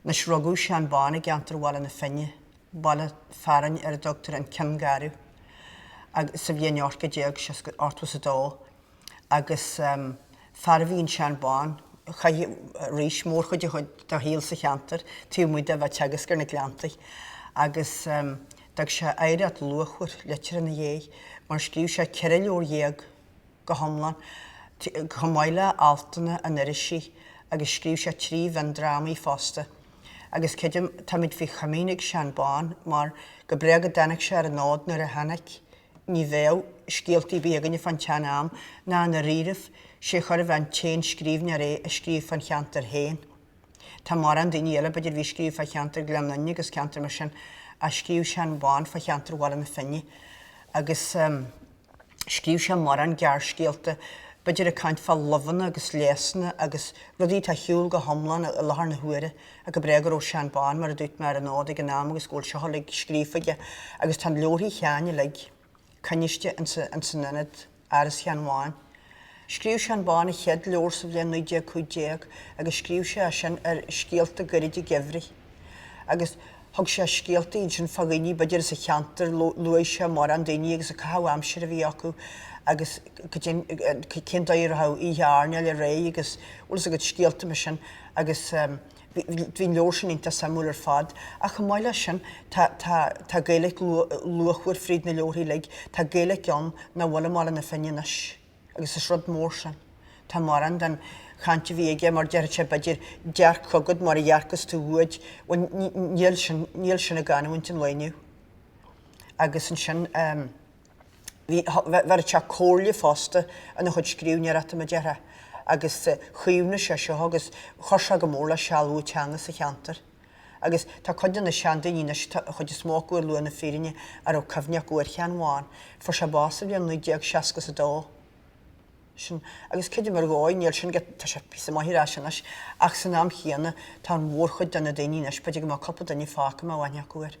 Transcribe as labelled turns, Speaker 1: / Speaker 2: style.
Speaker 1: Anois rugadh Seán Bán i gceantar Bhaile na Finne, baile fearainn ar a dtugtar an Cionn Garbh, sa bhliain 1882 agus fear a bhí in Seán Bán, chaith arís mórchuid dá shaol sa cheantar taobh amuigh de bheith ag teagasc ar na Gleanntaí agus d'fhág sé oidhreacht luachmhar liteartha ina dhéidh, mar scríobh sé ceithre leabhar dhéag. go hiomlán, chomh maith le altanna in irisí agus scríobh sé trí mhiondrámaí fosta. Agus creidim táimid faoi chomaoin ag Seán Bán mar, go b'é go dtáinig sé ar an fhód nuair a tháinig, ní bheadh scéaltaí ar bith againne fán tseanam ná i ndáiríribh, is é chóir a bheith an t-aon scríbhneoir é a scríobh fán cheantar féin. Tá mórán daoine eile b'fhéidir a bhí ag scríobh fá cheantar Gleann Fhinne agus ceantar mar sin ach scríobh Seán Bán fá cheantar Bhaile na Finne agus, Scríobh sé mórán gearrscéalta. B'fhéidir ag caint fá luibheanna agus leigheasanna agus rudaí atá ar shiúl go hiomlán i láthair na huaire. Ach go b'é go raibh Seán Bán, mar a dúirt mé, ar an fhód ag an am agus go bhfuil seo uilig scríofa aige. Agus tá leabharthaí Sheáin uilig coinniste ins an ins an Ionad, Áras Sheáin Bháin. Scríobh Seán Bán a chéad leabhar sa bhliain 1915 agus scríobh sé sin ar scéalta gairide geimhridh agus thug sé scéalta iad sin fá dhaoine b'fhéidir as a cheantar, luaigh sé mórán daoine agus an caitheamh aimsire a bhí acu agus cén dóigh a raibh oíche airneáil a réidh agus bhfuil fhios agat, scéalta mar sin agus bhí an leabhar sin iontach suimiúil ar fad. Ach chomh maith leis sin tá Gaeilge luachmhar fríd na leabharthaí uilig, tá Gaeilge ann nach bhfuil i mBaile na Finne anois. Agus is rud mór sin. Tá mórán den chaint a bhí aige mar déarfadh sé b'fhéidir dearc chugad mar a dhearcas tú uaid. Bhuel níl sin, níl sin i gcanúint an lae inniu. Agus ansin ehm, bhí, bheireadh sé comhairle fosta ina chuid scríbhneoireachta mar a déarfá. Agus chaomhnaigh sé seo agus chuir sé go mór le sealbhú teanga sa cheantar. Agus tá cuid de na seandaoine anois atá an chuid is mó acu ar shlua na fírinne a raibh cuimhne acu ar Sheán Bhán. Fuair sé bás sa bhliain 1960 is a dó. Sin, agus creidim ar dhóigh, níl sin agat, tá sé píosa maith ar ais anois, ach san am chéanna tá an mhórchuid de na daoine anois, b'fhéidir go mbeadh cúpla duine fágtha a mbeadh aithne acu air.